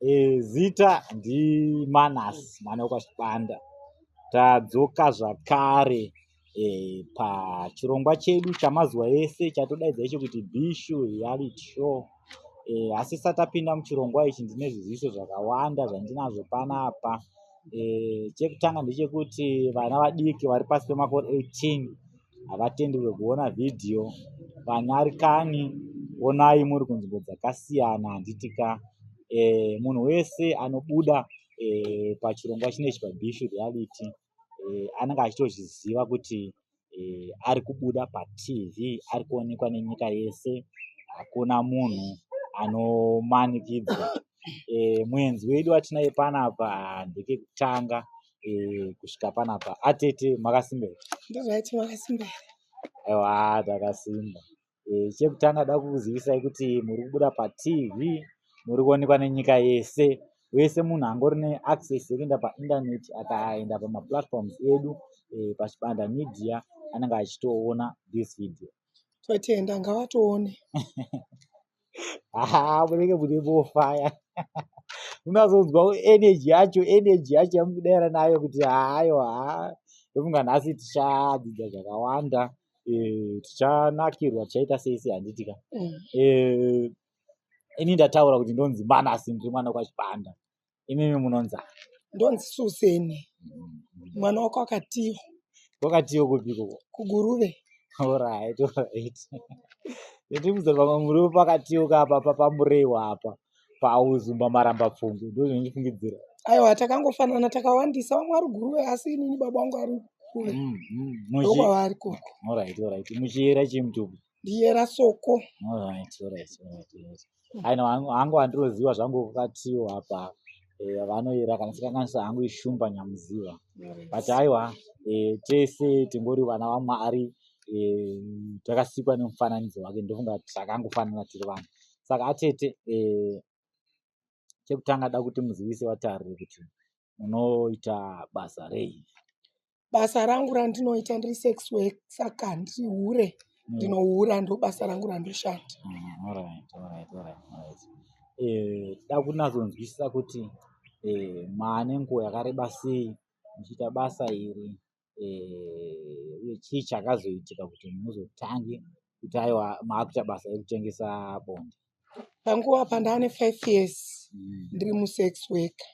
E, zita ndimanas mwana wekwachibanda tadzoka zvakare e, pachirongwa chedu chamazuva ese chatodaidza icho kuti bishu reality show e, asi satapinda muchirongwa ichi ndine zviziviso zvakawanda zvandinazvo panapa e, chekutanga ndechekuti vana vadiki vari pasi pemakore 18 havatenderwe kuona vhidhiyo vanyari kani onai muri kunzvimbo dzakasiyana handiti ka e, munhu wese anobuda e, pachirongwa chinechi pabishu reality e, anenge achitozviziva kuti e, ari kubuda patv ari kuonekwa nenyika yese hakuna munhu anomanikidzwa e, muenzi wedu watinaye panapa ndekekutanga eh, kusvika panapa atete makasimba here ndozvaiti makasimba here aiwa takasimba eh, chekutanga da kukuzivisai kuti muri kubuda patv muri kuonekwa nenyika yese wese munhu angori neaccess yekuenda painternet akaenda pamaplatforms edu eh, pachibanda media anenge achitoona this video Totenda ngavatoone. Haa munenge mune mofaya. Unazonzwa energy yacho energy yacho yamukudaira nayo kuti hayo haa. Ndofunga nhasi tichadzidza zvakawanda. Eh, tichanakirwa tichaita sei sei handiti ka. Mm. Eh, ini ndataura kuti ndonzi manasi ndiri mwana kwachipanda. imimi munonzi ndonzi suseni mwana wako akatiyo wakatiyo kupi koko kuguruve orit orit nditimuze pamwe muriwo pakatiyo kapa papamureiwo apa pauzumba maramba pfumbi ndozvindifungidzira aiwa takangofanana takawandisa vamwe ari guruve asi inini baba wangu ari kuve mm, mm, ndokwavari koko orit orit muchiyera chii mutubu ndiyera soko aina hangu andiroziva zvangu kukatiwo apa eh, vanoyera kana sikanganisa hangu ishumba nyamuziva but aiwa eh, tese tingori vana vamwari eh, takasikwa nemufananidzo wake ndofunga takangofanana tiri vanhu saka atete chekutanga da kuti muzivise vatariri kuti munoita basa rei basa rangu randinoita ndiri sex work saka ndiri hure ndinohura ndo basa rangu randoshanda Mm, all right, all right, all right, all right. Eh, da kunatsonzwisisa kuti eh, maane nguva yakareba sei muchiita basa iri eh, uye chii chakazoitika kuti muzotange kuti aiwa maakuita basa rekutengesa bonde panguva pandane five years mm. ndiri musex worker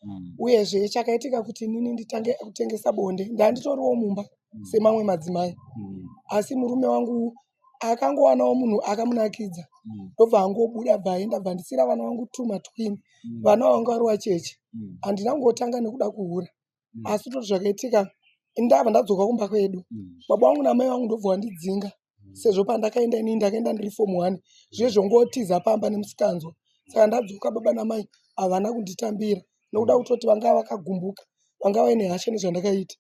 mm. uyezve chakaitika kuti inini nditange kutengesa bonde ndanditoriwo mumba mm. semamwe madzimai mm. asi murume wangu akangowanawo munhu akamunakidza mm. ndobva mm. angobuda bva aenda bva ndisira vana vangu two matwin mm. vana vanga vari wacheche mm. handina kungotanga nekuda kuhura mm. asi toti zvakaitika ndava ndadzoka kumba kwedu mm. baba wangu namai vangu ndobva vandidzinga mm. sezvo pandakaenda inini ndakaenda ndiri fom one zviye zvongotiza pamba nemusikanzwa saka ndadzoka baba namai havana kunditambira nokuda kutoti vanga vakagumbuka vanga vaine hasha nezvandakaita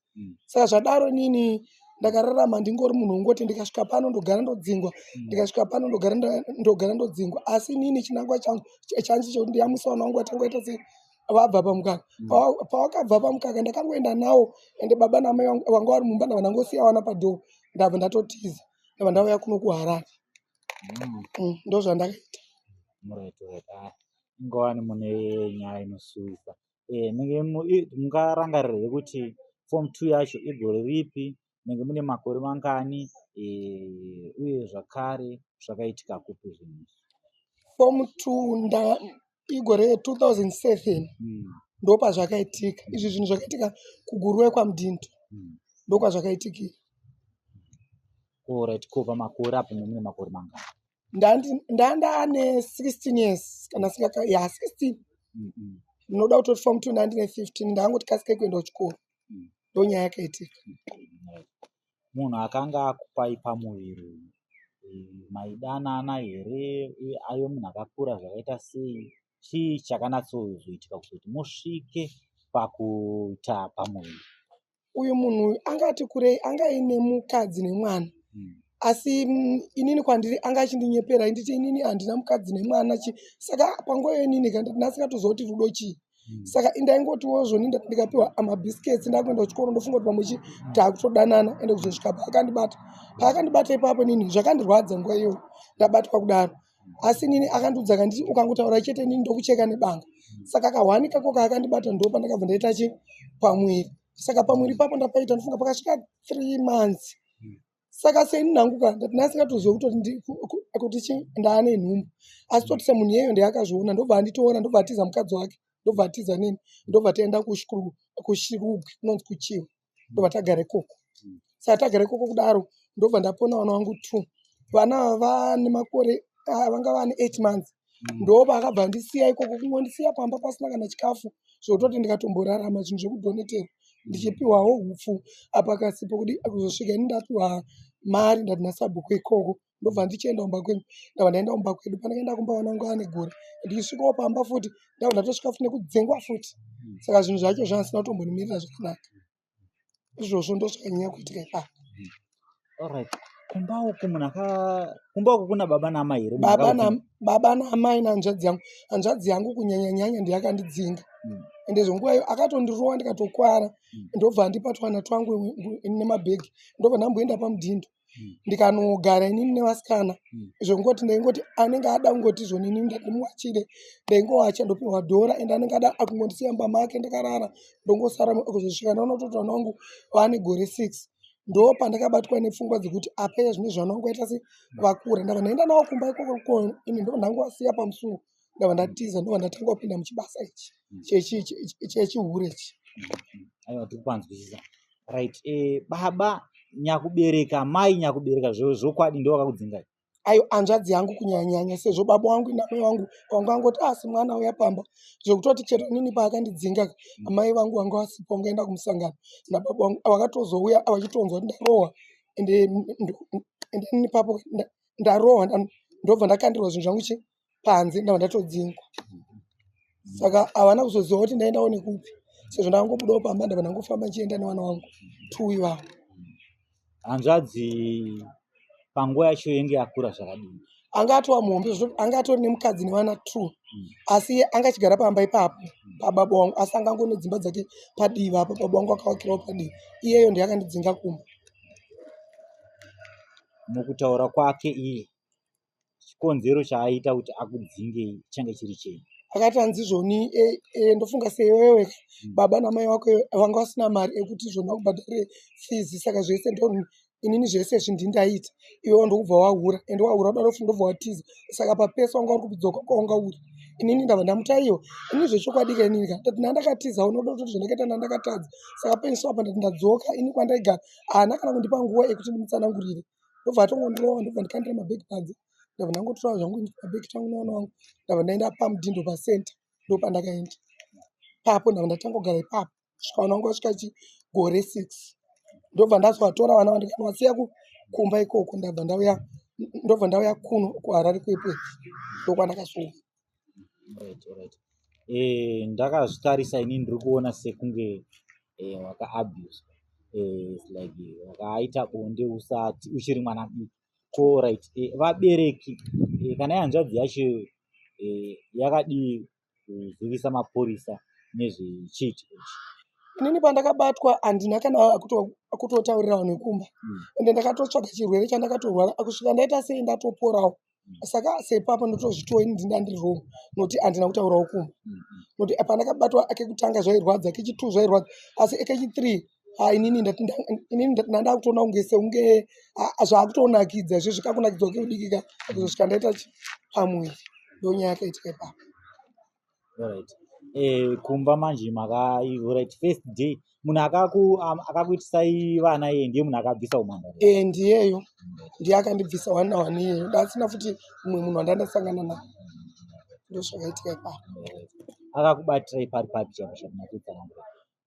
saka zvadaro inini ndakararama ndingori munhu wongoti ndikasvika pano ndogara ndodzingwa hmm. ndikasvika pano ndogara ndodzingwa asi inini chinangwa changu chanzi chekuti ndiyamwisa vana wangu vatanga ita sei vabva pamukaka pavakabva pamukaka ndakangoenda nawo ende baba namai vanga vari mumba ndava ndangosiya vana padhoo ndabva ndatotiza ndabva ndauya kuno kuharare mm. mm, ndo zvandakaita ah, ingowani mune nyaya inosuwisa eh, mungarangarirei kuti form two yacho igore ripi munenge mune makore mangani eh, uye zvakare zvakaitika kupi zvinhu izvi fomu two nda igore 2007 Mm, ndopazvakaitika izvi zvinhu zvakaitika kuguruwe kwamudhinto mm. ndokwazvakaitikira Alright, ko pamakore apo mune makore mangani Ndandi- ndanda ane 16 years kana singaka ya 16 Mm, mm. ndinoda kutoti fomu two ndandine 15 ndangoti kasike kuenda kuchikoro ndonyaya yakaitika munhu akanga akupai pamuviri uyu maidanana here uye aive munhu akakura zvakaita sei chii chakanatsozoitika kuzoti musvike pakuita pamuviri uyu munhu uyu anga ati kurei anga aine mukadzi nemwana hmm. asi mm, inini kwandiri anga achindinyepera inditi inini handina mukadzi nemwana chi saka panguva yoinini kandinasika tozooti rudo chii hmm. saka indaingotiwo zvoni ndikapiwa mabiscuits ndakuenda kuchikoro ndofunga kuti pamwe chii taakutodanana ende kuzosvika paakandibata paakandibata ipapo nini zvakandirwadza nguva iyoyo ndabatwa kudaro asi nini akandiudza kanditi ukangotaura chete nini ndokucheka nebanga saka kahwani kako kaakandibata ndo pandakabva ndaita chi pamwiri saka pamwiri ipapo ndapaita ndofunga pakasvika three months saka seini nangu ka ndati ndasingatoziva kutoti chi ndaane nhumbu asi toti semunhu yeyo ndeyakazviona ndobva anditoona ndobva atiza mukadzi wake ndobva atiza nini ndobva taenda kushirugwi kunonzi kuchiwa ndobva tagara ikoko saka tagara ikoko kudaro ndobva ndapona vana vangu two vana vane makore ah, vanga vane eight months ndoba akabva andisiya ikoko kungondisiya pamba pasina kana chikafu zvototi ndikatomborarama zvinhu zvekudoneterwa ndichipiwawo upfu apa kasipo kudi kuzosvika ini ndapiwa mari ndati nasabhuku ikoko ndobva ndichienda kumba kwenyu ndava ndaenda kumba kwedu pandakaenda kumba vana vangu ane gore ndichisvikawo pamba futi ndava ndatosvika futi nekudzengwa futi saka zvinhu zvacho zvanga zvisina kutombonimirira zvakanaka izvozvo ndozvanyanya kuitika ipapa Alright. Kumba uku munhu aka kumba uku kuna baba naamai here? Munhu baba akaudzwa- na baba naamai nahanzvadzi yangu hanzvadzi yangu kunyanya nyanya ndiye akandidzinga Mm. ende zvenguva iyo akatondirova ndikatokwara Mm. ndobva andipa twana twangu nemabhegi ndobva ndamboenda pamudhindo hmm. ndikanogara inini nevasikana hmm. zvekungoti ndaingoti anenge ada kungoti zvonini ndandimuwachire ndaingowacha ndopiwa dhora ende anenge ada akungondisiya mumba make ndakarara ndongosara kuzosvika ndaona kuti mwana wangu waane gore six ndo pandakabatwa nepfungwa dzekuti apeye zvine zvana wangu aita se vakura ndava ndaenda nawo kumba ikoko koko ini ndo ndangu asiya pamusuwo ndabva ndatiza ndobva ndatanga kupinda muchibasa ichi chechihure ichi aiwa tikupanzwisisa right eh, baba nyakubereka mai nyakubereka zvokwadi ndo vakakudzingai ayo anzvadzi yangu kunyanyanya sezvo baba wangu namai wangu wangu angoti asi ah, mwana uya pamba zvekutoti chero nini paakandidzinga mm. amai vangu vanga vasipo ngaenda kumusangano nababa wangu vakatozouya vachitonzwa kuti ndarohwa ende ende nini papo ndarohwa ndobva ndakandirwa zvinhu zvangu chi panze ndava ndatodzingwa saka havana kuzoziva kuti ndaendawo nekupi sezvo ndakangobudawo pamba ndava ndangofamba ndichienda nevana wangu two ivavo hanzvadzi panguva yacho yenge yakura zvakadini anga atova muhombe zvekuti anga atori nemukadzi nevana two hmm. asi anga achigara pamba ipapo hmm. pababa wangu asi anga angone dzimba dzake padivi apo baba wangu akavakirawo padivi iyeyo ndiye akandidzinga kumba mukutaura kwake iye chikonzero chaaita kuti akudzinge change chiri chei akati hanzi zvoni e, e, ndofunga sewewe hmm. baba namai wako vanga vasina mari ekuti zvoni vakubhadhare fizi saka zvese ndo inini zvese izvi ndindaita iwewo ndokubva wahura ende wahura uda ndofunga ndobva watiza saka papese wanga uri kubidzoka kwawanga uri inini ndava ndamutaiwa ini zvechokwadi ka inini ka ndati nandakatiza unoda kutoti zvandakaita nandakatadza saka penso apa ndati ndadzoka ini kwandaigara haana kana kundipa nguva yekuti ndimutsanangurire ndobva atongondirowa ndobva ndikandira mabhegi panze ndobva ndangotorawo zvangu kabhegi kangu nevana vangu ndobva ndaenda pamudhindo pacenter ndopandakaenda ipapo ndobva ndatanga kugara ipapo kusvika vana vangu vasvika chigore six ndobva ndazovatora vana vandikanowasiya kumba ikoko ndabva ndauya ndobva ndauya kuno kuharare kwepwe ndokwandakasvika eh, ndakazvitarisa ini ndiri kuona sekunge eh, wakaabuswa eh, like eh, wakaaita bonde usati uchiri mwana diki ko right eh, vabereki eh, kana yanzvadzi yacho eh, yakadii kuzivisa mapurisa nezvechiiti ichi inini pandakabatwa handina kana akutotaurira vanhu vekumba hmm. ende ndakatotsvaga chirwere chandakatorwara akusvika ndaita sei ndatoporawo mm. saka sepapo ndotozvitiwo ini ndinda ndiri wrong noti andina kutaura ukuma noti pandakabatwa akekutanga zvairwadza kechi two zvairwadza asi ekechi three Ah, inini ndandakutoona kunge seunge ah, ah, zvaakutonakidza izvo zvikakunakidzwa kekudikika izvo zvikandaita pamwe ndonyaya yakaitika ipapa Alright. Eh, kumba manje makai right first day munhu akaku am- akakuitisai vana iye ndiye munhu akabvisa umhandara e ndiyeyo ndiye akandibvisa one na one iyeyo ndasina futi mumwe munhu wandandasangana naye ndozvakaitika ipapo akakubatirai pari papi chamusha kunakutsanangura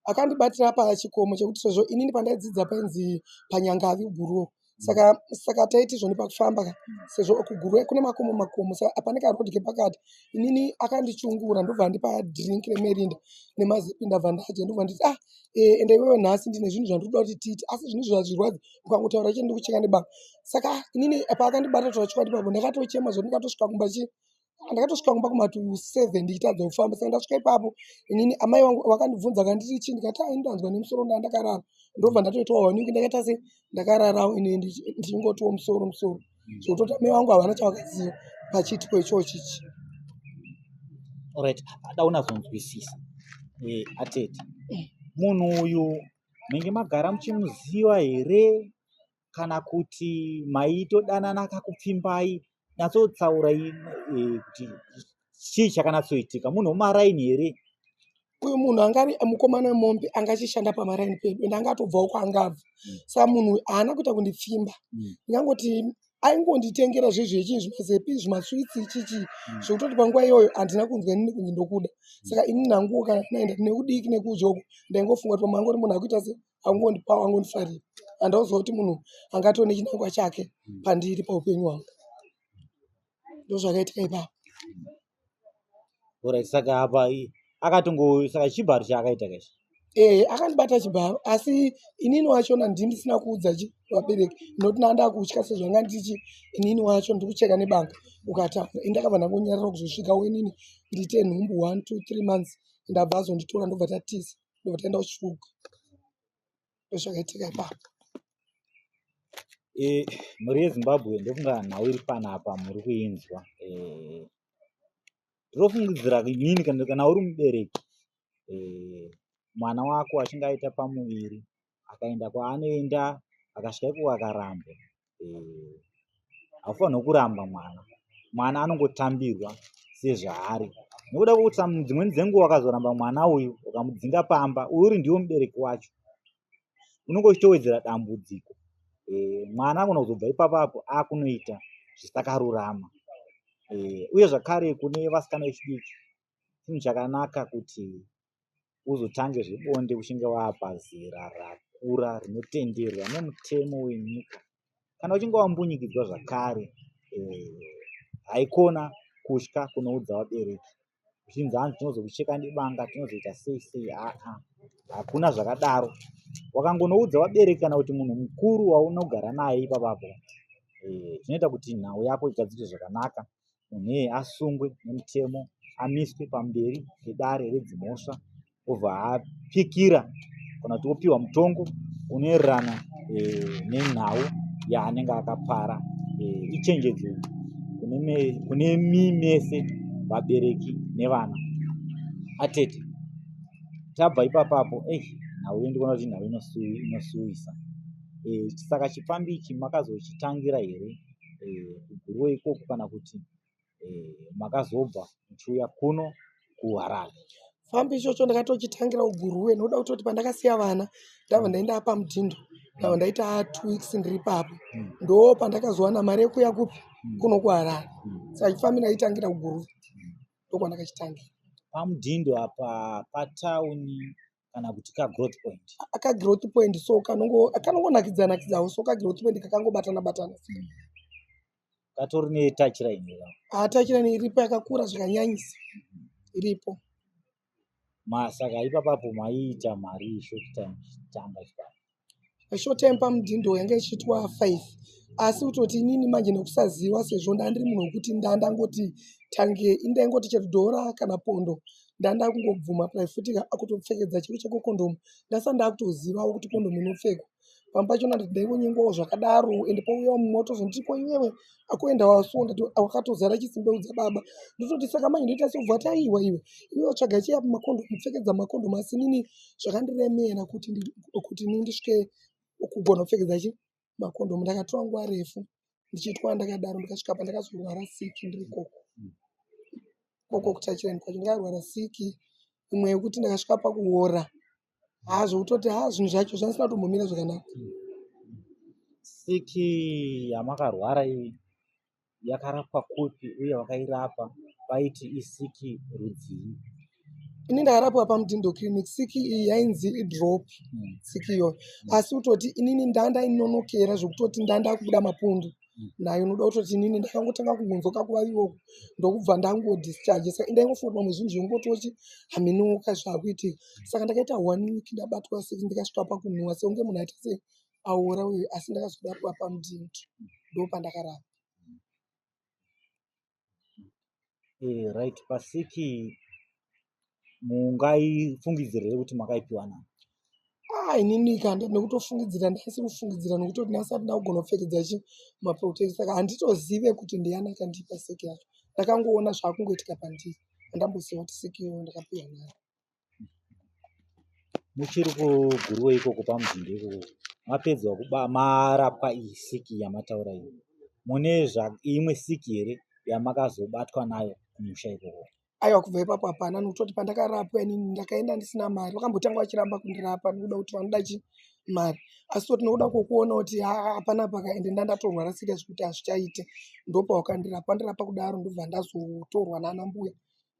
akandibatira paya chikomo chekuti sezvo inini pandaidzidza painzi panyangavi guruwo saka saka taiti zvoni pakufamba sezvo kuguruwe kune makomo makomo saka apane karoad kepakati inini akandichungura ndobva andipa drink remerinda nemazipi ndabva ndadya ndobva nditi ah eh, ende iwewe nhasi ndine zvinhu zvandinoda kuti tiite asi zvinhu izvi hazvirwadzi ukangotaura chete ndikucheka nebanga saka inini paakandibata toachokwadi pabo ndakatochema zvoti ndikatosvika kumba chii ndakatosvika kumba kuma to seven ndichitadza kufamba saka ndasvika ipapo inini amai vangu vakandibvunza kanditi chii ndikati ah, ini ndanzwa nemusoro ndaa ndakarara ndobva ndatoitawo waningi ndakaita se ndakararawo ini ndichingotiwo musoro musoro mm. zvokutoti amai vangu havana chavakaziva pachiitiko ichoo chichi orit adaunazonzwisisa eh, atete munhu uyu menge magara muchimuziva here kana kuti maitodanana kakupfimbai natsotsaurai e, kuti chii chakanatsoitika munhu wemaraini here uyu munhu angari mukomana wemombe anga achishanda pamaraini pedu ende anga atobvawo kwaangabva mm. sa munhu uyu haana kuita kundipfimba mm. ndingangoti aingonditengera zvezvo yechii zvimazepi zvimaswitsi chichi mm. zvekutoti panguva iyoyo handina kunzwa inini kunzi ndokuda saka ini nanguwo kana naenda ndine kudiki nekuudyoko ndaingofunga kuti pamangori munhu akuita se angondipa angondifarira andauziva kuti munhu angatone chinangwa chake hmm. pandiri paupenyu hwangu ndozvakaitika ipapo orit saka apa akatongo saka chibharo chaakaita kachi ee eh, akandibata chibharo asi inini wachona ndindisina kuudza chi vabereki ndinoti nanda kutya sezvanga ndichi inini wacho ndiri kucheka nebanga ukataura indakabva ndangonyarira kuzosvika wenini ndiite nhumbu one two three months ndabva azonditora ndobva tatisa ndovatenda uchisvuka ndozvakaitika ipapo e, mhuri yezimbabwe ndofunga nhau iri panapa muri kuinzwa e, ndinofungidzira e, nini kana uri mubereki e, mwana wako achinge aita pamuviri akaenda kwaanoenda akasvika ikoko akaramba eh, haufanirwa kuramba mwana mwana anongotambirwa sezvaari nokuda kwokuti dzimweni dzenguva akazoramba mwana uyu ukamudzinga pamba uyu uri ndiwo mubereki wacho unenge uchitowedzera dambudziko eh, mwana anogona kuzobva ipapapo akunoita zvisakarurama eh, uye zvakare kune vasikana vechidiki chinhu chakanaka kuti uzotange zvebonde uchinge wapa zera rakura rinotenderwa nemutemo wenyika kana uchinge wambunyikidzwa zvakare eh, haikona kutya kunoudza vabereki uchinzi hanzi tinozokucheka nebanga tinozoita sei sei aa hakuna zvakadaro wakangonoudza vabereki kana kuti munhu mukuru waunogara naye ipapapo eh, zvinoita kuti nhau yako igadzike zvakanaka munhu iyeye asungwe nemutemo amiswe pamberi pedare redzimhosva obva apikira kana kuti opiwa mutongo unoererana eh, nenhau yaanenge akapara eh, ichenjedzo kune mi mese vabereki nevana atete tabva ipapapo ei nhau yo ndikuona kuti nhau inosuwisa eh, saka chipfambi ichi makazochitangira here eh, kuGuruwe e, ikoko kana kuti e, makazobva muchiuya kuno kuHarare? Fambi ichocho ndakatochitangira uGuruwe nokuda kutoti pandakasiya vana ndava ndaenda apa mudhindo ndava ndaita two weeks ndiri papo hmm. ndo pandakazowana mari yekuya kupi hmm. kuno kuHarare hmm. saka chifambi ndaitangira uGuruwe ndokwandakachitangira. Pamudhindo apa patauni kana kuti kagrowth point akagrowth point so kanongonakidza nakidzawo so kagrowth point kakangobatana batana hmm. katori netouch line ah, touch line iripo yakakura zvakanyanyisa hmm. iripo masaka ipapapo maiita mari short time chitamba chipaa short time pamudhindo yange ichiitwa five asi kutoti inini manje nekusaziva sezvo ndandiri munhu wekuti ndandangoti tange indaingoti chero dhora kana pondo ndandakungobvuma pai futi akutopfekedza chiro cheko kondomu ndasa ndakutozivawo kuti kondomu inopfekwa pamba pacho ndaingonyengwawo zvakadaro ende pouyawo mumwe otozonditi ko iwewe akuenda wasunda wakatozara chisimbe udza baba ndototi saka manje ndoita sobva taiwa iwe iwe watsvaga chiya makondo kupfekedza makondo masi nini zvakandiremera kuti kuti ni ndisvike kugona kupfekedza chi makondo ndakatora nguva refu ndichiitwa ndakadaro ndikasvika pa ndakazorwara siki ndiri koko koko kutachirani kwacho ndakarwara siki imwe yekuti ndakasvika pakuora haa zvekutoti haa zvinhu zvacho zvanisina kutombomira zvakanaka siki yamakarwara iyi yakarapwa kupi uye vakairapa vaiti isiki rudzii ini ndakarapwa pamutindo clinic siki iyi yainzi idrop hmm. siki iyoyo asi kutoti inini ndandainonokera zvekutoti ndandakubuda mapundu nayo unoda kutoti nini ndakangotanga kungonzwa kakuvavivo ndokubva ndangodischarge saka ndaingofonwa muzvinhu zvongototi haminuka zvakuitika saka ndakaita one week ndabatwa six ndikasvika pakunhuwa seunge munhu aita se aora uyu asi ndakazoda kuva pamudinto ndo pandakarapa eh, right pasiki mungaifungidzira here kuti makaipiwa nani ah inini kanda nekutofungidzira ndaisi kufungidzira nekuti ndinasi andina kugona kupfekedza chi maprotection saka handitozive kuti ndiyani akandipa seki yacho ndakangoona zvaakungoitika pandiri andamboziva kuti seki iyo ndakapiwa nayo muchiri kuguruwe ikoko pamuzinda ikoko mapedzwa kuba marapwa iyi siki yamataura iyi mune imwe siki here yamakazobatwa nayo kumusha ikoko aiwa kubva ipapo hapana nokutoti pandakarapwa inini ndakaenda ndisina mari vakambotanga vachiramba kundirapa nokuda kuti vanoda chi mari asi toti nokuda kwokuona kuti hapana paka ende nda ndatorwara sika zvekuti hazvichaite ndopawakandira pandirapa kudaro ndobva ndazotorwa nana mbuya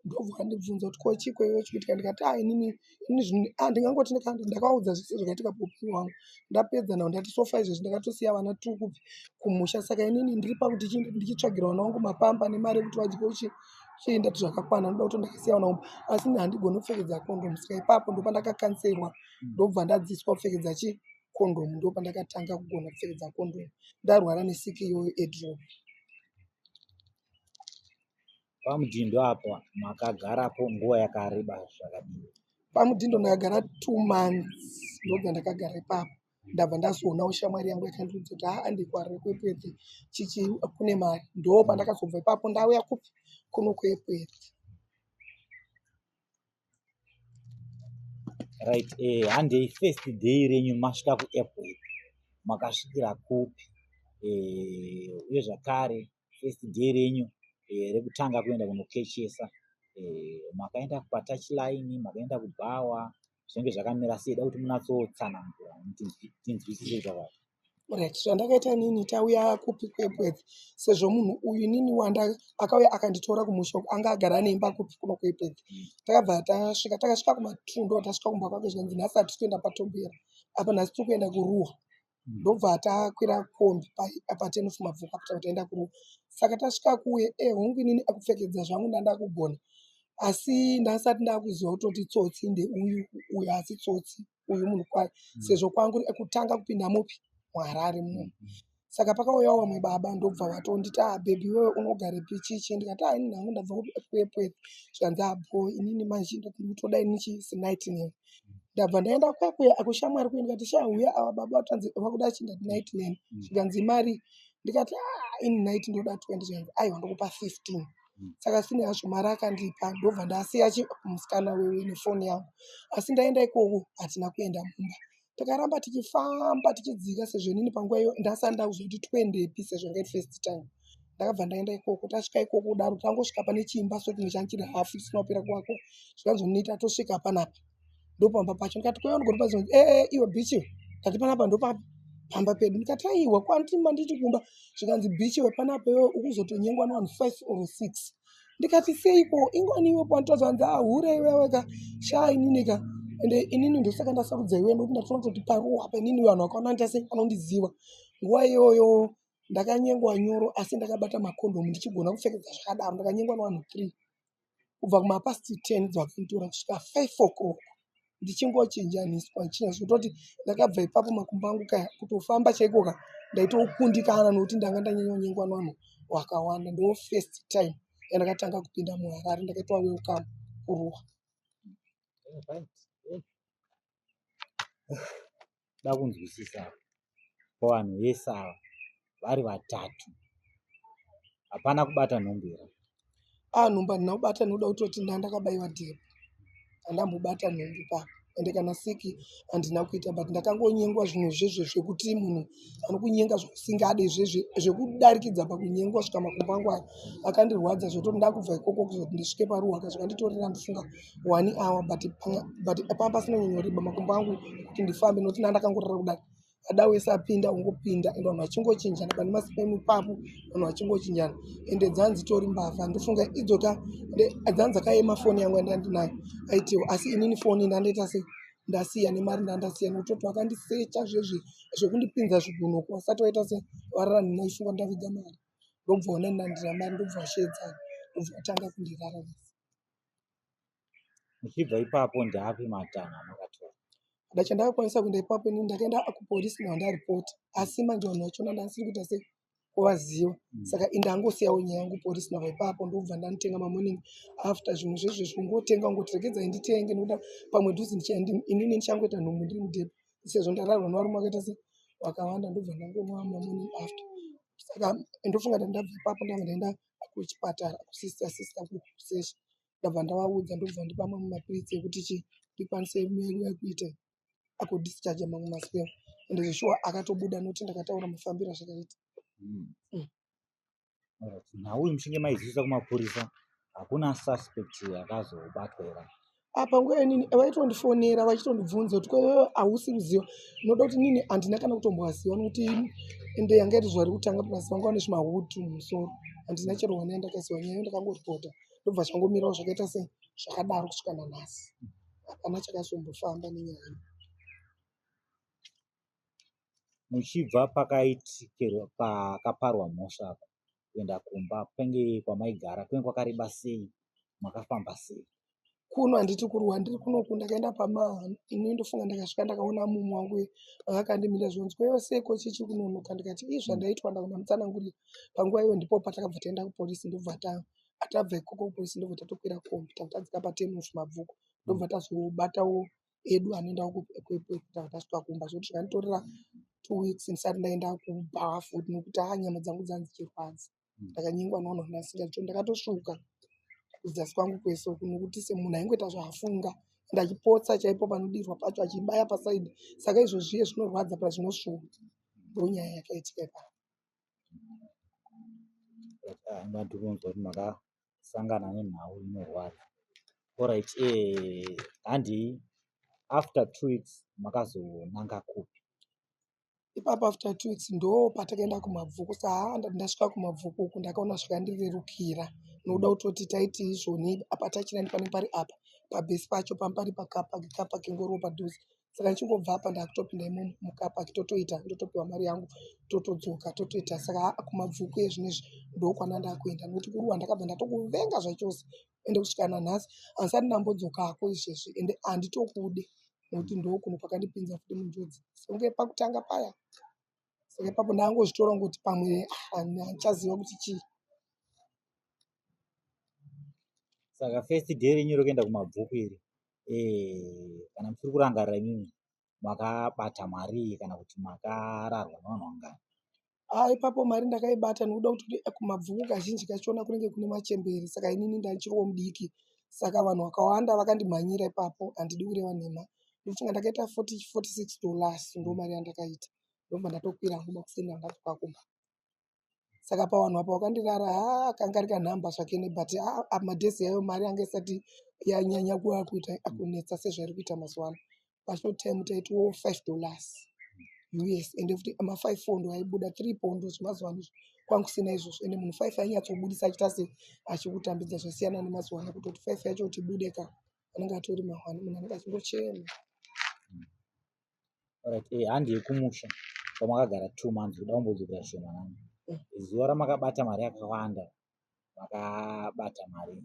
ndokubva andibvunza kuti ko chii ko iwe chii kuitika ndikati ah inini ini zvinhu ah ndingangoti nika- ndakavaudza zvese zvakaitika paupenyu hwangu ndapedza nhau ndati so far izvezvi ndakatosiya vana tiri kubva kumusha saka inini ndiri pakuti chi- ndichitsvagira vana vangu mapamba nemari yekuti vadye uchi chii ndati zvakakwana ndoda kuti ndakasiya vana vangu asi ini handigoni kupfekedza kondomu saka ipapo ndopandakakanserwa ndobva ndadziswa kupfekedza chi kondomu ndopandakatanga kugona kupfekedza kondomu ndarwara nesiki iyoyo edrop Pamudhindo apa makagarapo nguva yakareba zvakadini? Pamudhindo ndakagara two months ndobva ndakagara ipapo ndabva ndazoonawo shamwari yangu yakandiudza kuti haa andikwari kwepwete chichi kune mari ndoo pandakazobva ipapo ndauya kupi kuno kwepwete right eh, handei first day renyu masvika kuairport makasvikira kupi eh, uye zvakare first day renyu eh, rekutanga kuenda kunokechesa eh, makaenda kupatach line makaenda kubhawa zvinenge zvakamira sei da kuti munatsotsanangura tinzwisise zvakati Right. Zvandakaita inini tauya kupi kuEpworth sezvo munhu uyu inini wanda akauya akanditora kumusha uko anga agara ane imba kupi kuno kuEpworth. Takabva tasvika takasvika kumatundo tasvika kumba kwake zvikanzi nhasi hatisi kuenda patombera apa nhasi tiri kuenda kuruwa ndobva takwira kombi pa- apa ten of mabvuku apa tava taenda kuruwa saka tasvika kuye eh hongu inini akupfekedza zvangu ndandakugona asi ndasati ndakuziva kutoti tsotsi ndeuyu uyu asi tsotsi uyu munhu kwaye mm. sezvo kwangu ekutanga kupinda mupi muharare muno mm, mm. saka pakauya wamwe baba ndobva vatonditi a ah, bhebhi iwewe unogare pichichi ndikati a ah, ini nhangu ndabva kuepwepwep zvikanzi abo ah, inini manje ndiri kutoda ini chisinightname ndabva ndaenda kwakuya akushamwari kuya ndikati sha uya ava baba vatanzi vakuda chindati nightname zvikanzi mari ndikati a ini night ndoda twenty zvikanzi aiwa ndokupa fifteen saka sine hazvo mari akandipa ndobva ndasiya musikana wewe nefoni yangu asi ndaenda ikoko hatina kuenda mumba takaramba tichifamba tichidzika sezvo inini panguva iyo ndasati ndakuziva kuti toendepi sezvo nge first time ndakabva ndaenda ikoko tasvika ikoko kudaro tangosvika pane chiimba so chimwe change chiri hafu chisina kupera kuvako zvikanzi unoita tosvika panapa ndopamba pacho ndikati kwaiva ndikoti pacho ee eh, eh, iwe bichi iwe ndikati panapa ndopamba pedu ndikati aiwa kwantima nditi kumba zvikanzi bichi iwe panapa iwe ukuzotonyengwa nevanhu five or six ndikati seiko ingwani iwe panditaza hanzi ahure ah, iweweka shaa ininika ende inini ndosaka ndasarudza iwe ndokuti ndatoona kutoti paruwa apa inini vanhu vakaona ndita sei vanondiziva nguva iyoyo ndakanyengwa nyoro asi ndakabata makondomu ndichigona kupfekedza zvakadaro ndakanyengwa nevanhu three kubva kumapast 10 dzakanditora kusvika 5 o'clock ndichingochinjaniswa ndichinja zvekutoti ndakabva ipapo makumbo angu kaya kutofamba chaiko ka ndaitokundikana nokuti ndanga ndanyanyonyengwa nevanhu wakawanda ndo first time yandakatanga kupinda muharare ndakaitwa welcome kuruwa kuda kunzwisisa apa pavanhu vese ava vari vatatu hapana kubata nhombo here a ah, nhombo handina kubata ndinoda kutoti nda ndakabaiwa depo handambobata nhombo papa ende kana siki handina kuita but ndakangonyengwa zvinhu zvezve zvekuti munhu anokunyenga zvekusingade zvezve zvekudarikidza pakunyengwa svika makumbo angu ayo akandirwadza zvekuti ndakubva ikoko kuzoti ndisvike paruwaka zvikanditorera ndifunga one hour but but panga pasina nyoreba makumbo angu kuti ndifambe nokuti nda ndakangorara kudai ada wese apinda ungopinda and vanhu vachingochinjana pane masipemu ipapo vanhu vachingochinjana ende dzanzi tori mbavha ndofunga idzoka dzanzi dzakayema foni yangu yandandinayo aitiwo asi inini foni ndandaita sei ndasiya nemari ndandasiya nokuti kuti vakandisecha zvezve zvekundipinza zvigunho kuwasati waita se varara nhina ifunga ndavidza mari ndobva wanenandira mari ndobva washedzana ndobva watanga kundirararisa muchibva ipapo ndaapi matanho amakatora ada chandakakwanisa kuenda ipapo ini ndakaenda kupolisi nao ndaripoti asi manje vanhu vachona ndandisiri kuita sei kuvaziva mm. saka indangosiyawo nyaya yangu polisi nao ipapo ndokubva ndanotenga mamoning after zvimwe zvezvezvi kungotenga kungoti regedzai nditenge nokuda pamwe dhuzi inini ndichangoita nhumbu ndiri mudhepo sezvo ndararwa novarume vakaita sei wakawanda ndobva ndangonwa mamoning after saka ndofunga ndandabva ipapo ndanga ndaenda kuchipatara kusister sister kusearch ndabva ndavaudza ndobva vandipa mamwe mapiritsi ekuti chii ndikwanise kuita akudhischarger mamwe maspel and zveshuwa akatobuda nokuti ndakataura mafambiro azvakaita hmm. hmm. nhau iyi muchinge maizivisa kumapurisa hakuna suspect akazobatwa ira apa nguva inini vaitondifonera vachitondibvunza kuti kwewewe hausi kuziva unoda kuti nini handina kana kutombovaziva nokuti ende yanga iri zuva rekutanga plus vanga vane zvimahutu mumusoro handina chero wana yandakaziva nyaya yo ndakangoripota ndobva zvangomirawo zvakaita se zvakadaro kusvika nanhasi hapana chakazombofamba nenyaya muchibva pakaitikerwa pakaparwa mhosva apa kuenda kumba kwenge kwamaigara kwenge kwakareba sei makafamba sei kuno handiti kuruwa ndiri kunoku ndakaenda pama ini ndofunga ndakasvika ndakaona mumu wangu akandimira zvinonzi kwaiva sei ko chichi kunonoka ndikati ii zvandaitwa ndakona mutsanangurira panguva iyo ndipo patakabva taenda kupolisi ndobva ta atabva ikoko kupolisi ndobva tatokwira kombi takatadzika patemufu mabvuku ndobva tazobatawo edu anoenda kuita kuti asvika kumba zvekuti zvakanditorera two weeks ndisati ndaenda kubhawa futi nekuti haa nyama dzangu dzanga dzichirwadza hmm. ndakanyengwa nounhu ndasika cho ndakatosvuka kudzasi kwangu kwese uku nekuti semunhu aingoita zvaafunga and achipotsa chaipo panodirwa pacho achibaya pasaidi saka izvo zviye zvinorwadza pa zvinosvuka ndonyaya yakaitika ipapo ah, sangana nenhau inorwadza orit eh, handi after two weeks makazonanga kupi ipapo after two weeks ndo patakaenda kumabvuku saa ndati ndasvika kumabvuku uku ndakaona zvikandirerukira nokuda mm. kutoti taiti izvoni apa tachina ndipane pari apa pabhesi pacho pampari pakapa kapa kengoro padhuze saka ndichingobva apa ndakutopinda imomo mukapa totoita ndotopiwa mari yangu totodzoka totoita saka kumabvuku ezvinezvi ndokwana ndakuenda nokuti kuri wandakabva ndatokuvenga zvachose ende kusvika nanhasi handisati ndambodzokako izvezvi ende handitokude nokuti ndokuno kwakandipinza futi munjodzi songe pakutanga paya saka ipapo ndangozvitora ngokuti pamwe ah, handichaziva kuti chii saka first day renyu rokuenda kumabvuku iri eh, kana musiri kurangarira imimi makabata mari kana kuti makararwa nevanhu vangani ah, ipapo mari ndakaibata nekuda kuti eh, kumabvuku kazhinji kachiona kunenge kune machembere saka inini ndandichiriwo mudiki saka vanhu vakawanda vakandimhanyira ipapo handidi kureva nhema ndofunga ndakaita 46 dollars ndo mari yandakaita ndobva ndatokwira hangu makuseni andadzoka kumba saka pawanhu apa wakandirara haa kanga ari kanhamba zvakene but aa madhesi yayo mari yanga isati yanyanya kuva kuita akunetsa sezvairi kuita mazuva ano pashort time taitiwo five dollars us ende futi mafive four ndo aibuda three pondo zvemazuva ano kwanga kusina izvozvo ende munhu five ainyatsobudisa achiita se achikutambidza zvasiyana nemazuva ano kutoti five yacho kuti bude ka anenge atori mahwani munhu anenge achingochema Alright, eh, handi yekumusha kwamakagara two months kuda kumbodzokera shoma nani zuva ramakabata mari yakawanda makabata mari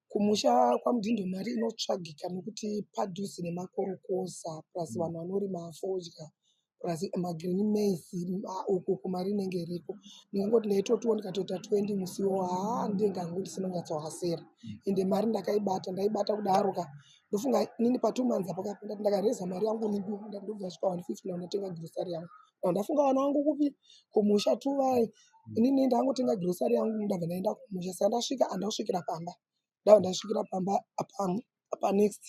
kumusha kwamudindo mari inotsvagika nokuti padhuze nemakorokoza plus vanhu vanorima fodya plus magreen mais uku kumari inenge iriko ndingangoti ndaitotiwo ndikatoita 20 musiwo haa ndingangu ndisinonyatsohasira ende mari ndakaibata ndaibata kudaroka ndofunga inini patwo months apo ndati ndakareza mari yangu ndu ndati ndobva svika 150 na ndatenga grocery yangu na ndafunga vana vangu kupi kumusha tu vai inini ndangotenga grocery yangu ndabva ndaenda kumusha saka ndasvika andasvikira pamba ndabva ndasvikira pamba apa apa next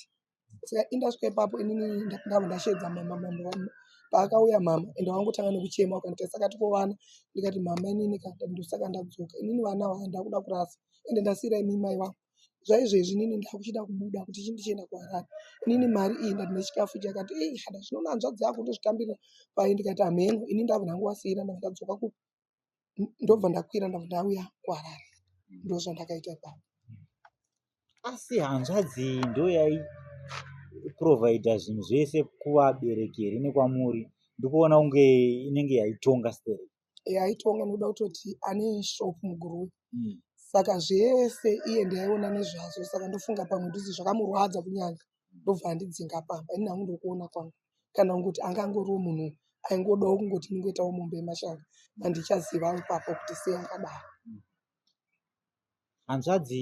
saka indasvika ipapo inini ndabva ndasheedza mama mama paakauya mama ende wangotanga nekuchema ukanditai saka tikovana ndikati mama inini ka ndosaka ndadzoka inini vana vaa ndakuda kurasa ende ndasiira imi mai vangu zvaizvezvi inini ndakuchida kubuda kuti chii ndichienda kuharare inini mari iyi ndati nechikafu ichi akati ii hada zvinoona hanzvadzi yako ndozvitambirira paye ndikati hameno ini ndava ndangu wasiira ndava ndadzoka ku ndobva ndakwira ndava ndauya kuharare ndozvandakaita ipapo asi hanzvadzi iyi ndoyai providha zvinhu zvese kuvabereki here nekwamuri ndikuona kunge inenge yaitonga stereki eh, aitonga nokuda kutoti ane shop muguruwe mm. saka zvese iye ndaiona nezvazvo saka ndofunga pamwe ndisi zvakamurwadza kunyanya ndobva andidzinga pamba ini hangu ndokuona kwangu kana kungoti anga angoriwo munhu aingodawo kungoti ndingoitawo mombe yemashanga andichaziva ipapo kuti sei akadaro mm. hanzvadzi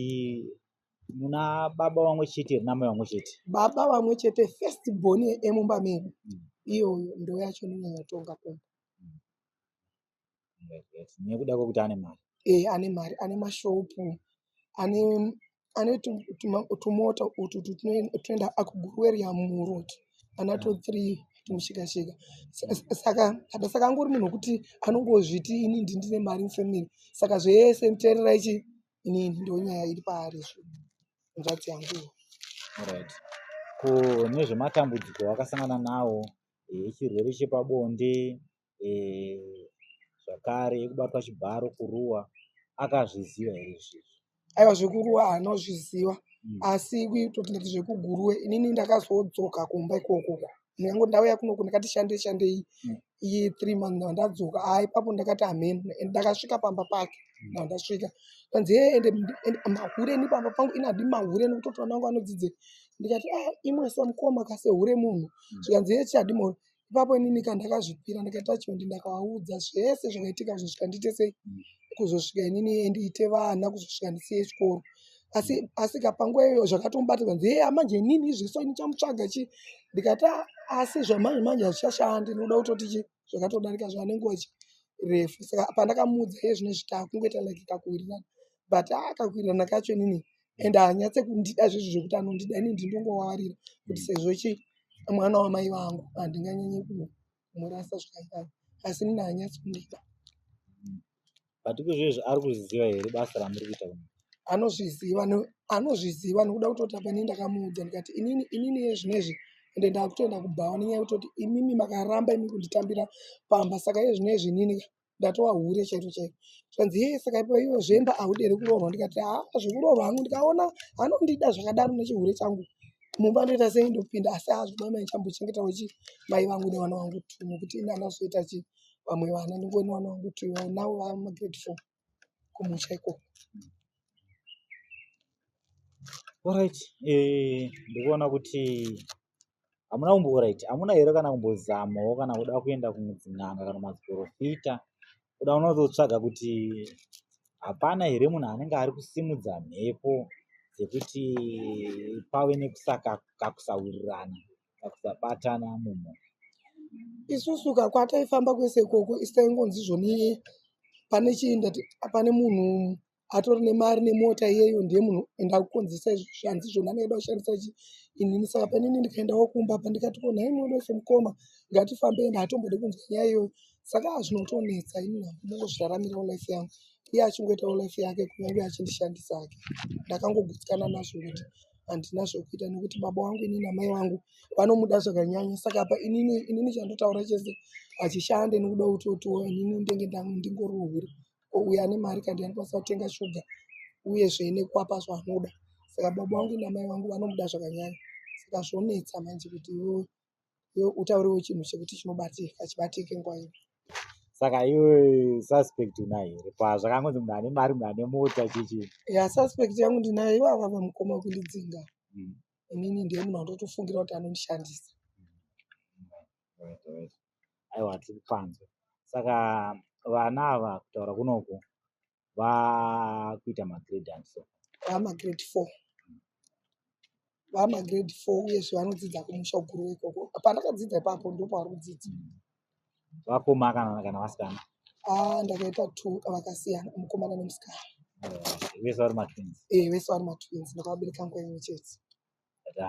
muna baba vamwe chete here namai vamwe chete baba vamwe chete first born emumba medu mm. iyoyo ndo yacho nonyanya tonga kumba nekuda kwekuti ane mari eh ane mari ane mashopu ane ane tumota utu tunoenda akugurueria muroti anato mm. three tumushikashika saka hata saka angori munhu wekuti anongozviti ini ndi ndine mari mufamily saka zvese muterera ichi inini ndonyaya iri paari zvo nzvadzi yangu right ko nezvematambudziko akasangana nawo eh, chirwere chepabonde eh, zvakare yekubatwa chibharo kuruwa akazviziva here izvizvi aiwa zvekuruwa anozviziva mm. asi totinati zvekuguruwe inini ndakazodzoka kumba ikokoko ndikangoti ndauya kunoku ndakati shandei shandei mm. iyi three month na ndadzoka a ipapo ndakati amen and ndakasvika pamba pake mm. na ndasvika kanzi hee ende mahure ni pamba pangu inadi mahure nekuti mwana wangu anodzidze ndikati ah imwe samukoma ka sehure munhu mm. zvikanzi hesi chadimoro ipapo inini ka ndakazvipira ndakaita chiondi ndakavaudza zvese zvakaitika kuzosvika ndiite sei mm. kuzosvika inini ndiite vana kuzosvika ndisiye chikoro asi mm. asi ka panguva iyoyo zvakatomubata kanzi hee amanje inini izveso ini chamutsvaga chi ndikati ah, asi zvamanje manje hazvichashandi ndinoda kutoti chi zvakatodarika zvane nguva chi refu saka pandakamuudza iye zvine zvitakungoita like kakuwirirana but akakuwirirana kacho inini and haanyatse kundida zvezvo zvekuti anondida ini ndindongowawarira kuti sezvo chi mwana wamai vangu handinganyanye kumurasa zvakadai asi nini haanyatsi kundida but kuzvezvi ari kuzviziva here basa ramuri kuita kuno anozviziva no- anozviziva nokuda kutoti apa ini ndakamuudza ndikati inini inini yezvinezvi ende ndakutoenda kubhawa nenyaya yekutoti imimi makaramba imi kunditambira pamba saka yezvinezvi inini ka ndatova hure chairo chairo zvanzi yee saka ipo ivo zvemba ahudere kuroorwa ndikati haa zvekuroorwa hangu ndikaona anondida zvakadaro nechihure changu mumba ndoita sei ndopinda asi haa zvimai mai chambochengeta wechi mai vangu nevana vangu tu nokuti ini anazoita chi vamwe vana ndingoni vana vangu tu navo vamagrade four kumusha ikoko Alright, eh, ndikuona kuti hamuna kumboraiti hamuna here kana kumbozamawo kana kuda kuenda kumudzin'anga kana maziporofita kuda unototsvaga kuti hapana here munhu anenge ari kusimudza mhepo dzekuti pave nekusakakusawirirana kakusabatana mumhu isusu ka kwataifamba kwese ikoko isitaingonzi zvoni pane chii ndati pane munhu atori nemari nemota iyeyo ndiye munhu enda kukonzesa izvi zvanzi zvona anoeda kushandisa chi inini saka panini ndikaendawo kumba pa ndikati ko nhai mwedu wese mukoma ngatifambe ende hatombodi kunzwa nyaya iyoyo saka aa zvinotonetsa ini hangu mongozviraramirawo life yangu iye achingoitawo life yake kunyange achindishandisa ake ndakangogutsikana nazvo kuti handina zvokuita nekuti baba wangu inini amai wangu vanomuda zvakanyanya saka apa inini inini chandotaura chese hachishande nekuda kuti otiwo inini ndenge ndingorohuri ko uyo ane mari kandi anokwanisa kutenga shuga uyezve nekuapa zvaanoda saka baba vangu namai vangu vanomuda zvakanyanya saka zvonetsa manje kuti iwewe iwe utauriwo chinhu chekuti chinobatika chibatike nguva ino saka iwe suspect unayo here pazvakangonzi munhu ane mari munhu ane mota chichi ya suspect yangu ndinayo ivo avava mukoma wekundidzinga mm. inini ndiye munhu andotofungira kuti anondishandisa mm. right, right. aiwa tiri kupanzwa saka vana ava kutaura kunoku vakuita magrade and so vamagrade four vamagrade four uyezve vanodzidza kumusha uguru ikoko pandakadzidza ipapo ndopavari kudzidza vakoma kana kana vasikana ah, ndakaita two vakasiyana mukomana nemusikana vese vari matwins e vese vari matwins ndakavabereka nguva imwe chete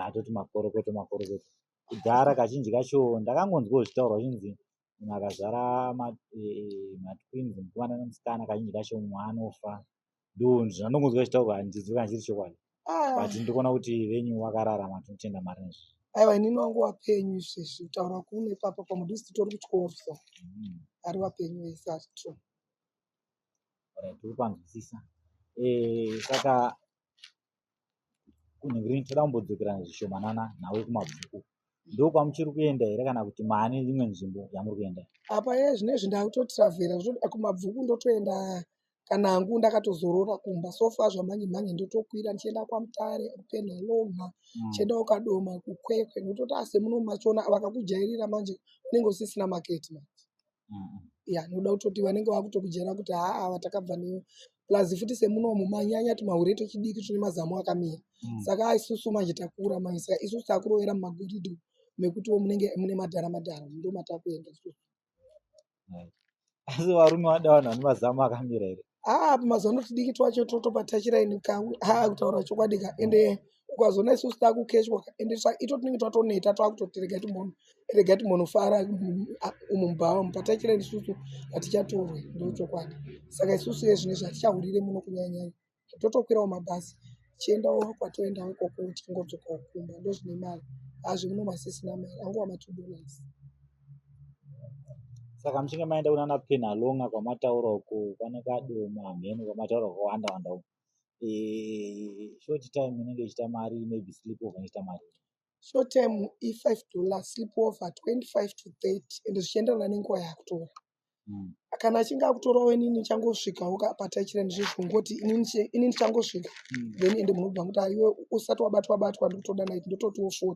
atoti makorokoto makorokoto kudhara kazhinji kacho ndakangonzwawo zvitaurwa zvinzi munhu akazvara matwins eh, mukomana nemusikana kazhinji kacho mumwe anofa ndonzi zvandongonzwa zvitaurwa handizivi kana chiri chokwadi ah. but ndikuona kuti venyu wakararama tinotenda mari nezvo aiwa inini wangu wapenyu izvezvi kutaura kuno ipapo pamudisi titori kutyoro so mm. ari wapenyu wese asi tru tiri panzwisisa eh, saka kunhingirei toda kumbodzokerana zvishomanana nawe kumabvuku ndokwamuchiri kuenda here kana kuti maane imwe nzvimbo yamuri kuenda apa ye zvine izvi ndakutotravhera zvoda kumabvuku ndotoenda kana hangu ndakatozorora kumba sofa zvamhanye mhanye ndotokwira ndichienda kwamutare kupenda loma mm. chienda ukadoma kukwekwe ndototi ase muno machona vakakujairira manje unenge usisina maketi manje ya noda kutoti vanenge vakutokujera kuti haa vatakabva newe plus futi semunomu manyanya tumahure twechidiki tune mazamu akamira mm. saka isusu manje takura manje saka isusu takurovera mumagoridho mekutiwo munenge mune madhara madhara ndo matakuenda isusu asi varume vada vanhu vane mazamu akamira here haa mazuva ano tidiki twacho totopatachiraini ka haa kutaura chokwadi ka ende ukazoona isusu takukeshwa ka ende ito tinenge twatoneta twakutoti regai timbono regai timbonofara umu mubhawa mupatachiraini isusu hatichatorwe ndo chokwadi saka isusu ye zvine zvatichahurire muno kunyanyanya totokwirawo mabhasi tichiendawo kwatoendawo ikoko tichingodzokawo kumba ndo zvine mari hazvi muno masisina mari anguva matudonasi saka muchinge maenda kunana penalonga kwamataura uko kwana kadoma hamheno kwamataura kwawanda wanda uko eh, short time inenge ichita mari maybe sleep over inoita mari short time i5 dollar sleep over 25 to 30 ende zvichienderana nenguva yakutora hmm. kana achinge akutorawo ini ndichangosvikawo kapata chira ndizvizvo ngoti ini ndichangosvika hmm. then ende munobva kuti aiwe usati wabatwa batwa ndikutoda nit ndototiwo 40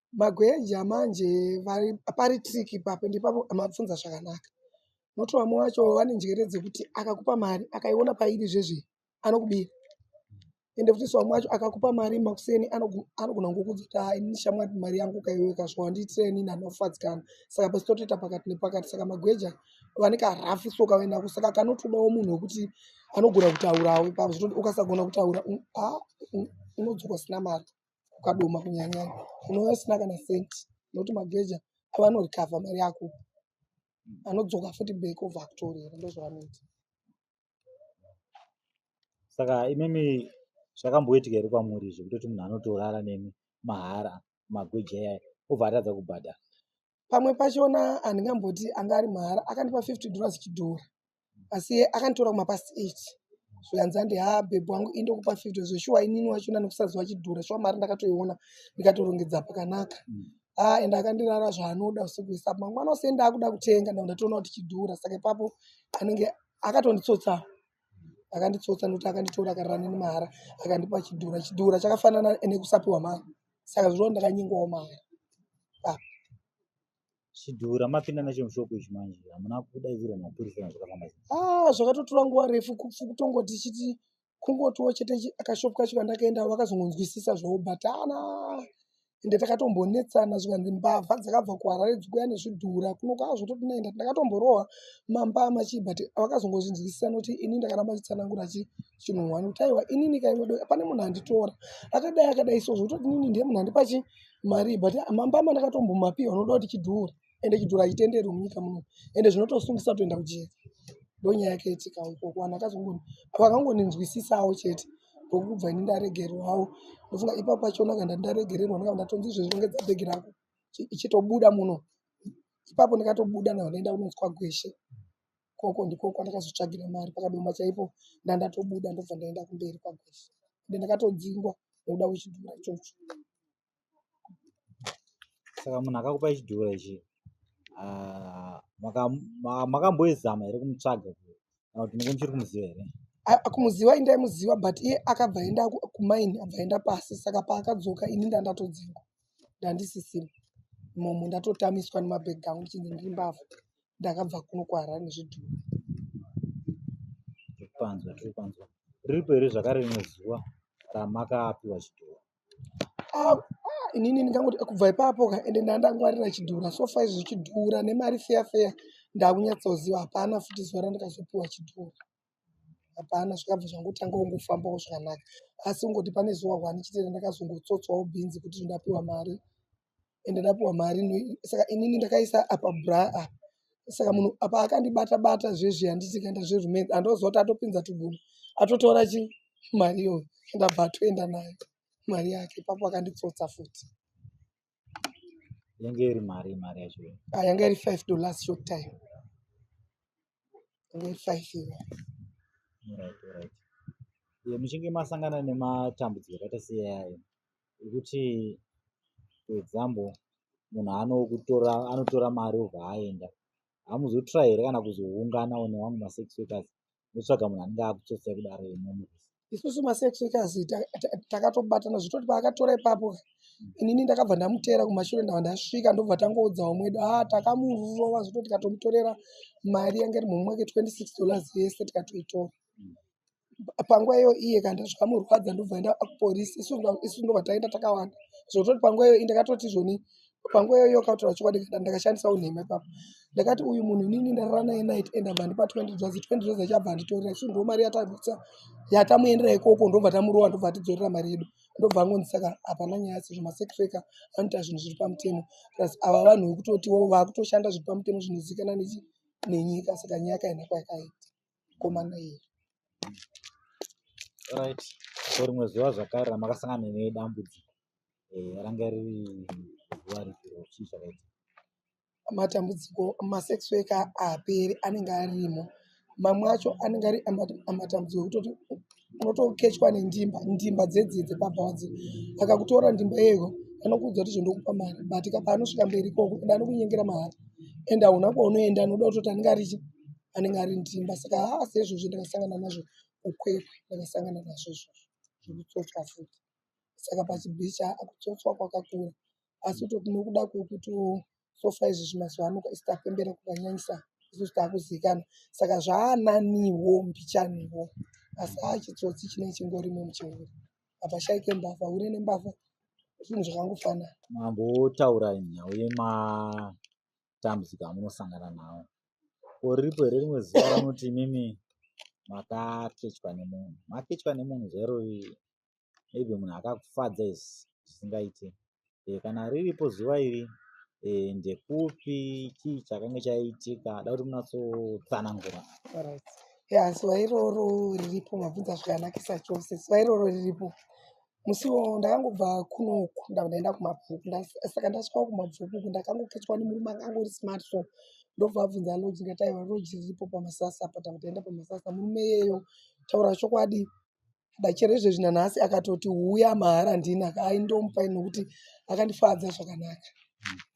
magwenja manje vari pari trick ipapo ndipapo mabvunza zvakanaka noti vamwe vacho vane njere dzekuti akakupa mari akaiona pairi zvezve anokubira ende futi so vamwe vacho akakupa mari makuseni anogu- anogona ngokuti kuti "Ah, ini shamwari mari yangu ukaiweka zvo handiitire ini ndanofadzikana saka pasi totoita pakati nepakati saka magweja vane karafu so kavaendako saka kanotodawo munhu wekuti anogona kutaurawo ipapo zvekuti ukasagona kutaura un- ah, un- unodzoka usina mari kukadoma kunyanya unova usina kana cent nokuti mageja avanorecover mari yako anodzoka futi back obva akutorera ndozvavanoita saka imimi zvakamboitika here kwamuri zvekutoti munhu anotorara nemi mahara magweja yaya obva atadza kubhadhara pamwe pachona handingamboti anga ari mahara akandipa 50 dollars chidhora asi akanditora kumapast 8 zvikanzi andi ha bhebhi wangu indokupa 50 zveshuwa inini wachona nekusaziva chidhora shuwa mari ndakatoiona ndikatorongedza pakanaka mm. ha ah, ende akandirara zvaanoda usiku isa mangwana ose ndaakuda kutenga nda ndatoona kuti chidhora saka ipapo anenge akatonditsotsawo akanditsotsa nokuti akanditora akarira neni mahara akandipa chidhora chidhora chakafanana nekusapiwa mari saka zvinova ndakanyengawo mari chidhura mapinda nacho mushoko izvi manje hamuna kudaidzira mapurisa zvakafamba ah, zvakatotora nguva refu kutongoti chiti kungotiwo chete akashopu kacho kandakaenda vakazongonzwisisa zvobatana ende takatombonetsana zvikanzi mbavha dzakabva kuharare dzikuya nezvidhura kuno kwaazvototi naenda ndakatomborohwa mambama chii but vakazongozvinzwisisa noti ini ndakaramba chitsanangura chi chinhu wani kuti aiwa inini ka inodo pane munhu anditora akadai akadai so zvekutoti inini ndiye munhu andipa chi mari but mambama ndakatombomapiwa unoda kuti chidhura ende chidhura chitenderi munyika muno ende zvinotosungisa kutoenda kujeri ndonyaya yake itika ikoko vanhu akazongoni vakangoninzwisisawo chete ndokubva ini ndaregerwawo ndofunga ipapo pachona kanda ndaregererwa ndakabva ndatonzi izvezvi rongedza bhegi rako ichitobuda muno ipapo ndikatobuda nawo ndaenda kunonzwa gweshe Ikoko ndiko kwandakazotsvagira mari pakadoma chaipo ndandatobuda ndobva ndaenda kumberi kwagwesha ende ndakatodzingwa nekuda kwechidhura ichocho. Saka munhu akakupa chidhura ichi ah, makamboizama here kumutsvaga kana kuti muko muchiri kumuziva here? Kumuziva indaimuziva but iye akabva aenda kumaini abva aenda pasi saka paakadzoka ini ndandatodzingwa ndandisisina imomo ndatotamiswa nemabhegi angu ndichinzi ndiri mbavha. ndakabva kuno kuharare nezvidhori tiripanzwa tiripanzwa riripo here zvakare rimwe zuva ramakapiwa chidhori ah, ah, inini ndingangoti kubva ipapo ka ende ndandangwarira chidhura sofa izvi zvichidhura nemari feya feya ndakunyatsoziva hapana futi zuva randakazopiwa chidhura hapana zvakabva zvangotanga kungofambawo zvakanaka asi kungoti pane zuva one chitenda ndakazongotsotswawo bhinzi kuti ndapiwa mari ende ndapiwa mari saka inini ndakaisa apa bra apa saka munhu apa akandibata bata zvezvi handiti kaenda zverumeni andoziva kuti atopinza tuguma atotora chi mari iyoyo ndabva atoenda nayo mari yake ipapo akanditsotsa futi yanga iri mari mari yacho ah, yanga iri five to last short time yanga iri five iwe right right ye muchinge masangana nematambudziko akaita seyayo ekuti for example munhu anokutora anotora mari obva aenda hamuzotry here kana kuzoungana one wangu masex workers ndotsvaga munhu anenge akutsotsai kudaro imomo isusu masex workers takatobatana zvitoti paakatora ipapo inini ndakabva ndamuteera kumashure ndava ndasvika ndobva tangoudzawo mwedu a ah, takamurova zvoto tikatomutorera mari yange iri mumwe wake 26 dollars yese tikatoitora panguva iyo iye kana ndazvikamurwadza ndobva enda kupolisi isu ndobva taenda takawanda zvototi panguva iyo i ndakatoti izvoni panguva iyoyo akataura chokwadi kana ndakashandisa unhema ipapo ndakati uyu munhu inini ndarara naye night and abva ndipa twenty dollars twenty dollars chabva anditorera isu ndo mari yatadutsa yatamuendera ikoko ndobva tamurova ndobva atidzorera mari yedu ndobva angonzi saka hapana nyaya sezvo masekreka anoita zvinhu zviri pamutemo plus ava vanhu vekutotiwo vakutoshanda zviri pamutemo zvinozikana nenyika saka nyaya kaina kwayakaita komana iri right so rimwe zuva zvakare ramakasangana nedambudziko eh, ranga riri zuva ripiro chii zvakaita matambudziko masexweka haaperi anenge arimo mamwe acho anenge ari amatambudziko ekutoti unotokechwa nendimba ndimba dzedzii dzepabha wadzi akakutora ndimba iyeyo anokuudza kuti zvendokupa mari but ka paanosvika mberi ikoko ende anokunyengera mahari and hauna kwaunoenda anoda kutoti anenge arichi anenge ari ndimba saka haa sezvozvo ndakasangana nazvo kukwekwe ndakasangana nazvo izvozvo zvekutsotswa futi saka pachibhichi haa kutsotswa kwakakura asi kutoti nokuda kwekuti sofa izvi zvimazuva ano isitapembera kukanyanyisa isusu taakuzikana saka zvaananiwo mbichaniwo asi haa chitsotsi chinee chingorimo muchihure apa shaike mbavha hure nembavha zvinhu zvakangofanana mambotaura nhau yema matambudziko amunosangana nawo ko riripo here rimwe zuva raunoti imimi makakechwa nemunhu makechwa nemunhu zvero maybe munhu akakufadza is zvisingaite e, kana riripo zuva iri e, ndekupi chii chakange chaitika da kuti munatsotsanangura right. ya zuva iroro riripo mabvunza zvikanakisa chose zuva iroro riripo Musi iwowo ndakangobva kuno uku ndabva ndaenda kumabvuku. Ndas- Saka ndasvikawo kumabvuku uku ndakangoketswa nemurume anga angori smart so ndobva abvunza lodge ndikati aiwa lodge riripo pamasasa apa ndabva taenda pamasasa. Murume iyeyo taura chokwadi da chero izvezvi nanhasi akatoti huya mahara handini aka aindomupa ini nokuti akandifadza zvakanaka.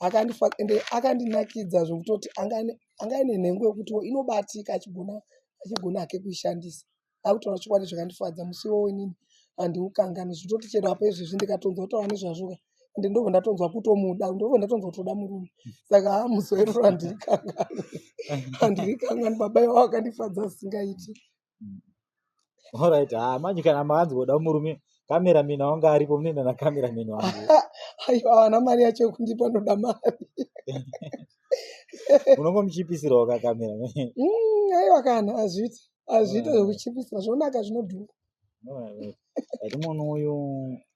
akandifa ende akandinakidza zvekutoti anga ane- anga ane nhengo yekutiwo inobatika achigona achigona hake kuishandisa akutaura chokwadi zvakandifadza musi iwowo inini handiukanganwi zvitoti chero apa izvezvi ndikatonzwa kutaura nezvazvoka ende ndobva ndatonzwa kutomuda ndobva ndatonzwa kutoda murume saka haa musi wairoro handirikangani handirikangani baba iwavo akandifadza asingaiti orit haa manje kana makanzi voda murume kamerameni aunge aripo munoenda nakamerameni wangu aiwa havana mari yacho yekundipa ndoda mari unongomuchipisirawo kakamerameni mm, aiwa kana azviti azviita zvekuchipisa zvonaka zvinodhura ati munhu uyu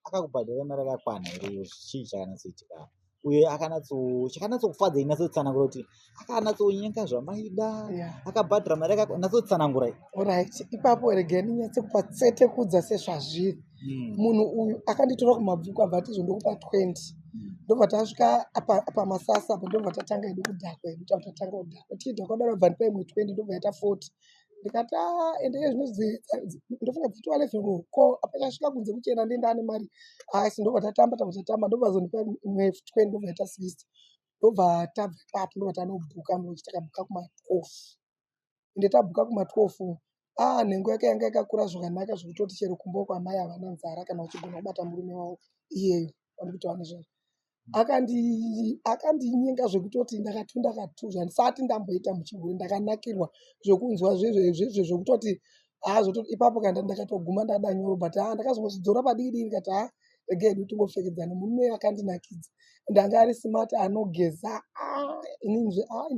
akakubhadhara mari akakwana here chii chakanatsoitika uye akanatsochakanatsoufadza inatsotsanangura kuti akanatsonyenga zvamaida akabhadhara mari akanatsotsanangura orit ipapo regeni nyatse kupa tsete kudza sezvazviri mm. munhu uyu akanditora kumabvuku abva ati izvo ndokupa 20 mm. ndobva tasvika pamasasa apa ndobva tatanga edu kudhakwa edu tava tatanga kudhakwa tichidhakwa kudaro abva ndipa imwe 20 ndobva yaita 40 ndikati ah, ende iye zvinonzi ndofunga dziti walefero ko apachasvika kunze kuchena ndienda ane mari asi ndobva tatamba tabva tatamba ndobva azondipa imwe 20 ndobva yaita 60 ndobva tabva ipapo ndobva tanobhuka mbochitakabuka kumakofu ende tabhuka kuma 12 ah nhengo yake yanga yakakura zvakanaka zvekutoti chero kumba uko amai havana nzara kana vachigona kubata murume wavo iyeyo vanokuti kuti vana zvavo akandinyenga zvekutoti ndakati ndakatuzva ndisati ndamboita muchigure ndakanakirwa zvekunzwa zvezvezvezve zvekutoti azoto ipapo kanda ndakatoguma ndada nyoro but a ndakazongochidzora padikidiki ndikati a rega hedu tingopfekedzana murume akandinakidza ndanga ari smart anogeza ah, inini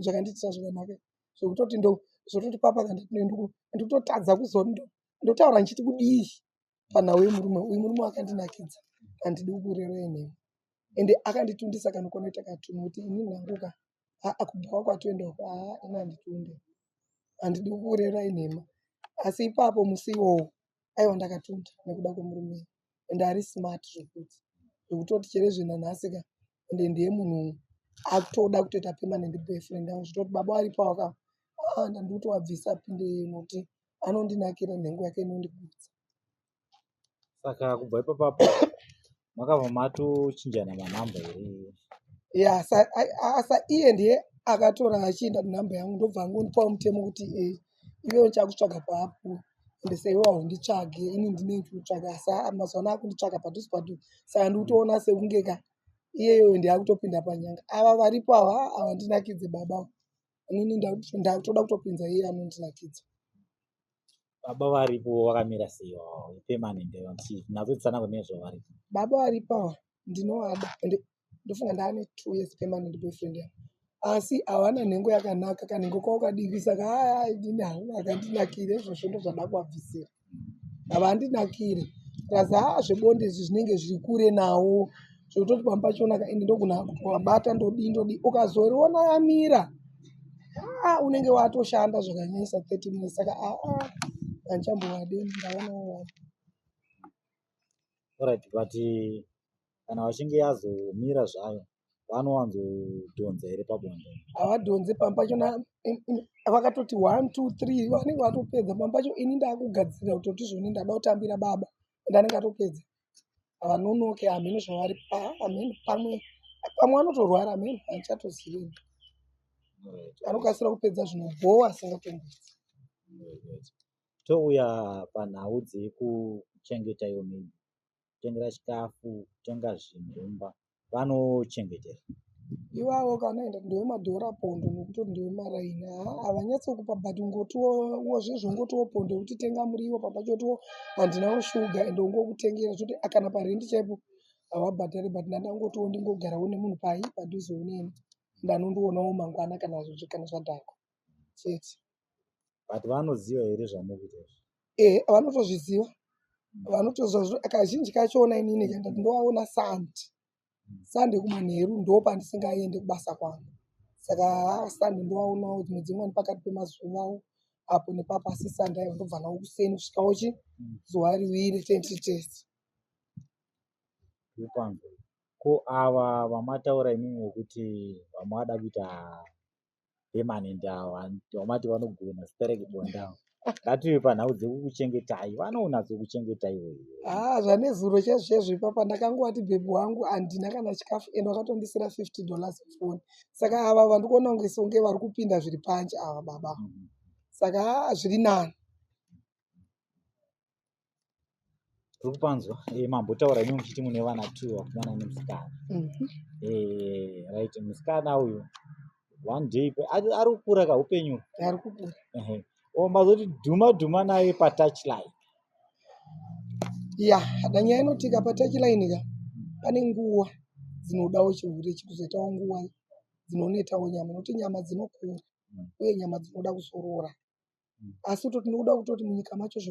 zvakandiitisa zvakanaka zvekutoti ndo zvekutoti papa kana ndinenduko ndikutotadza kuzondo ndotaura ndichiti kudii panhau yemurume uyu murume wakandinakidza handidi kukurerei nemi ende akanditundisa kana kunoita katunhu kuti ini nhanguka aa kubhawa kwatoenda uko aa ini handitunde handidi kukurerai nhema asi ipapo musi iwowo aiwa ndakatunda nekuda kwemurume and ari smart zvekuti zvekutoti chere zvenanhasi ka and ndiye munhu akutoda kutoita permanent boyfriend yangu zvitoti baba aripo aka ah, ndandikuti wabvisa pinde noti anondinakira nhengo yake inondigutsa saka kubva ipapapo makabva matochinjana manhamba here ya asa iye ndiye akatora achienda nenhamba yangu ndobva angondipawo mutemo kuti e iwe uchakutsvaga papo ende seiwe haunditsvage ini ndinenge kutsvaga asa mazuva ano akunditsvaga padhuze padhuze saka ndikutoona sekunge ka iyeyoyo ndiakutopinda panyanga ava varipo ava havandinakidze baba inini ndakutoda kutopinza iye anondinakidza baba varipo vakamira sei oh, permanent nazotisana kune zvavari baba varipo ndinovada and ndofunga ndaane two years permanent boyfriend yangu asi hawana nhengo yakanaka kanhengo kavo kadiki saka haadini havo akandinakire izvozvo ndozvada kuvabvisira havandinakire plus haa zvebonde izvi zvinenge zviri kure nawo zvekutoti pamba pachona ka ende ndokunaka kuti wabata ndodii ndodii ukazoriona yamira ah, unenge watoshanda zvakanyanyisa 30 minutes saka ah, ah, anchambowade ndaonawo right but kana vachinge yazomira zvayo vanowanzodhonza here pabonde havadhonze pamba pacho vakatoti one two three vanenge vatopedza pamba pacho ini ndakugadzirira kutoti zvoni ndada kutambira baba and anenge atopedza havanonoke hameno zvavari ameno pamwe pamwe anotorwara ameno haichatozivi anokasira kupedza zvinobhowa asingatombidzi touya panhau dzekuchengeta iwo mei kutengera chikafu kutenga zvinhumba vanochengetera ivavo kanaenda ndevemadhora pondo nekuti ndevemaraini haa havanyatsokupa but ngotiwo zvezvo ngotiwo pondo yekuti tenga muriwo papachotiwo handinawo shuga ende ungokutengera zvoti kana parendi chaipo havabhadhari but ndandangotiwo ndingogarawo nemunhu pai padhuze uneni ndanondionawo mangwana kana kana zvadhakwa chete but vanoziva here zvamukuita izvi ehe vanotozviziva vanotoziva zvino kazhinji kacho ona inini kanda ndinovaona sandi sandi kumanheru ndo pandisingaende kubasa kwangu saka sandi ndovaonawo dzimwe dzimwe ni pakati pemazuvawo apo nepapo asi sandi ayo ndobva nawo kuseni kusvikawo chi zuva riwiri tenti tese kupanzwa ko ava vamataura imimi wekuti vamwada kuita pemanende avo vamati vanogona sterek bonda avo ngative panhau dzekukuchengetai vanounatso kuchengetai wewe haa zvanezuro chezvezvo ipapa ndakangovati bhebhi wangu handina kana chikafu ende wakatondisira 50 dollars foni saka ava vandikuona kunge songe vari kupinda zviri panje ava baba mm -hmm. saka haa zviri nani uri kupanzwa eh, mambotaura imi muchiti mune vana two vakomana nemusikana Mhm. Eh, right musikana uyu one day pe- ari ari kukura ka upenyu ari kukura Ehe. o mazoti dhuma dhuma naye patouch line ya kana nyaya inotika patachilaini ka pane nguwa dzinodawo chihure chikuzoitawo nguwa dzinonetawo nyama nokuti nyama dzinokura Mm. uye nyama dzinoda kuzorora Mm. asi to tinoda kutoti munyika macho zveku